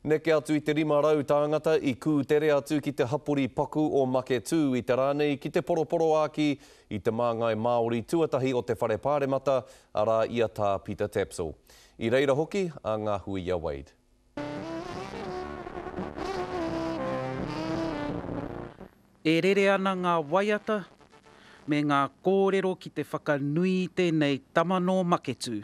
Neke atu i te 500 tāngata i kūtere atu ki te hapori paku o Maketū i te rā nei ki te poroporoāki i te māngai Māori tuatahi o te Whare Pāremata, arā i a Tā Pita Tapsell. I reira hoki a Ngahuia Wade. E rere ana ngā waiata me ngā kōrero ki te whakanui i tēnei tama nō Maketū.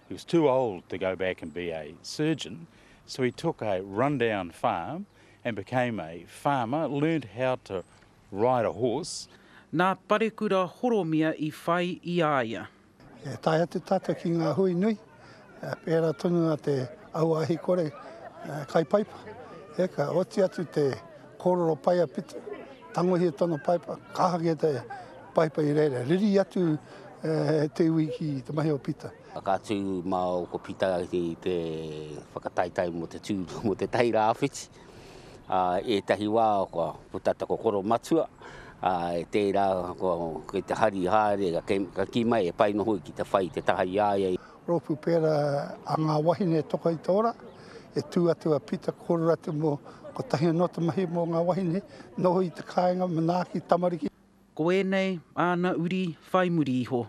He was too old to go back and be a surgeon, so he took a run-down farm and became a farmer, learned how to ride a horse. Nā Parekura Horomia i whai i a ia. E tae atu tātou ki ngā hui nui, pērā tonu a te auāhikore kaipaipa, eka, oti atu te. Kōrero pai a Pita, tangohia tōna paipa, kāhaki e te paipa i reira, riri atu te iwi ki te mahi o Pita. Whakaatu māu ko Pita ki te whakataetae mō te tū, mō te tahi rāwhiti. I ētahi wā kua puta te kokoro matua, e tērā kei te hari haere, ka kī mai e pai noa hoki te whai te taha i a ia. Rōpū pērā a Ngā Wahine Toka i te Ora, e tū atu a Pita Kōrero atu mō kotahi anō te mahi mō ngā wahine, noho i te kāinga, manaaki, tamariki. Ko ēnei āna uri whai muri iho,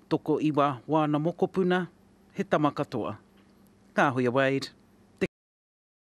tokoiwa wāna mokopuna, he tama katoa. Kāhoia Wade. Te.